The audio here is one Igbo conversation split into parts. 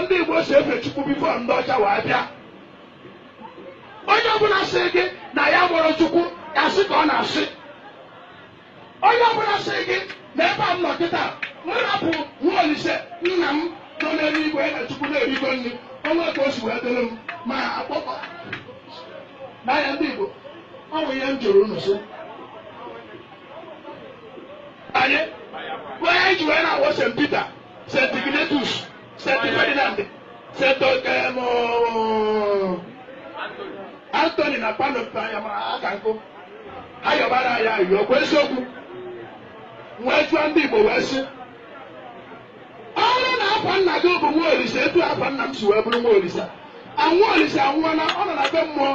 ndị Igbo si efe Chukwu bifo ndị ọcha wee bịa onye ọbụla sị gị na ya mụrụ Chukwu asị ka ọ na-asị onye ọbụla sị gị na ebe a m nọ kịta m rapụ nwa Olise nna m nọ n'elu igwe na Chukwu na-erigo nri o nwe ka o si wee dịrị m ma akpọkọ n'anya ndị Igbo ọ bụ ihe m jụrụ unu sị anyị ihe anyị ji wee na-ayọ St. Peter St. Ignatius, St. Ferdinand, St. Okem, Anthony na Padua ma aka nkụ ha yọbara anyị ayịyọ ọkwa eziokwu wee jụọ ndị Igbo wee sị ọ bụrụ na afa nna gị bụ nwa olise etu afa nna m si wee bụrụ nwa olise nwa olise anwụọla ọ nọ na be mmụọ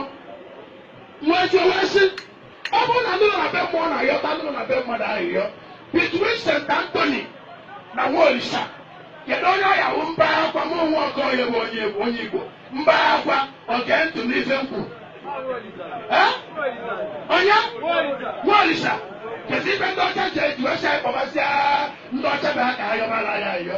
wee jụọ wee sị ọ bụrụ na ndị nọ na be mmụọ na-ayọta ndị nọ na be mmadụ ayịyọ between St. Anthony na Nwaolisa kedu onye ọya wụ mba akwa m onwe Okoye bụ onye bụ onye Igbo mba akwa gee ntị n'ife m kwuru Eh? onye Nwaolisa kedu ife ndị ọcha ji eji wee sị anyị kpọbasịa ndị ọcha bụ ha ka ha yọbara anyị ayịyọ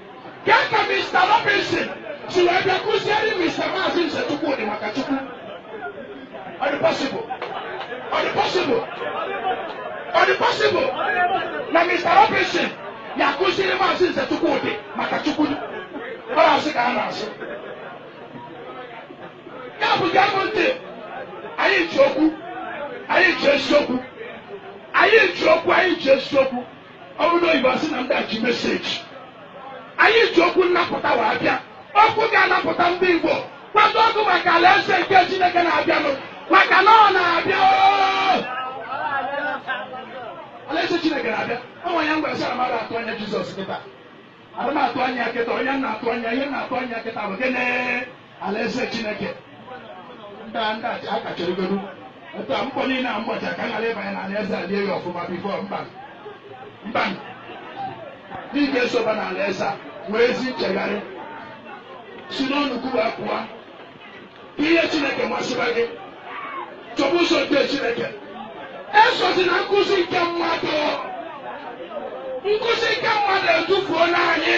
Kee ka Mr. Robinson si wee bịa kụziere Mr. Maazị Nze Chukwudi maka Chukwu. Ọ dị possible? Ọ dị possible? Ọ dị possible na Mr. Robinson ya-akụziri Maazị Nze Chukwudi maka Chukwu? Ọ bụ asị ka a na-asị. Ya bụ gee m ntị, anyị ji okwu, anyị ji eziokwu, anyị ji okwu, anyị ji eziokwu. ọ bụrụ oyibo asị na ndị a ji meseji anyị ji okwu nnapụta wee bịa okwu ga-anapụta ndị Igbo kwadokwa maka alaeze nke Chineke na-abịanụ maka na ọ na-abịa alaeze Chineke na-abịa ọ bụ ya m ji wee sị na adịrọ atụ anya Jizọs kịta adịrọ atụ anya kịta onye na-atụ anya ihe a na-atụ anya kịta bụ gịnị alaeze chineke ndị a ndị a kachọrọgodu etu a mkpọ niile a mgbacha ka ghara ịbanye na alaeze a lie ya ọfụma bifo mba mba ndị ga-esoba na alaeze a nwee ezi nchegharị si n'ụnọ ụka wee pụọ ka ihe chineke masịba gị chọba ụzọ nke chineke esozina nkụzi nke mmadụ nkụzi nke mmadụ edufuona anyị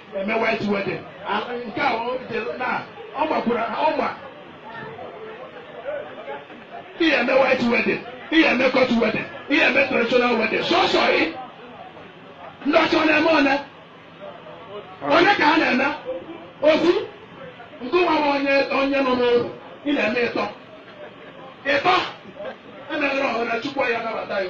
eme white wedding A- nke a o jere na ọ gbakwara ọ gba ị ya-eme white wedding ị ya-eme court wedding ị ya-eme traditional wedding sọsọ gị ndị ọcha ọ na-eme one one ka ha na-eme ofu ngị nwa bụ onye onye nọ n'oru ị na-eme ịtọ ịtọ emeghere ọhụrụ na chukwu ya-anabata ya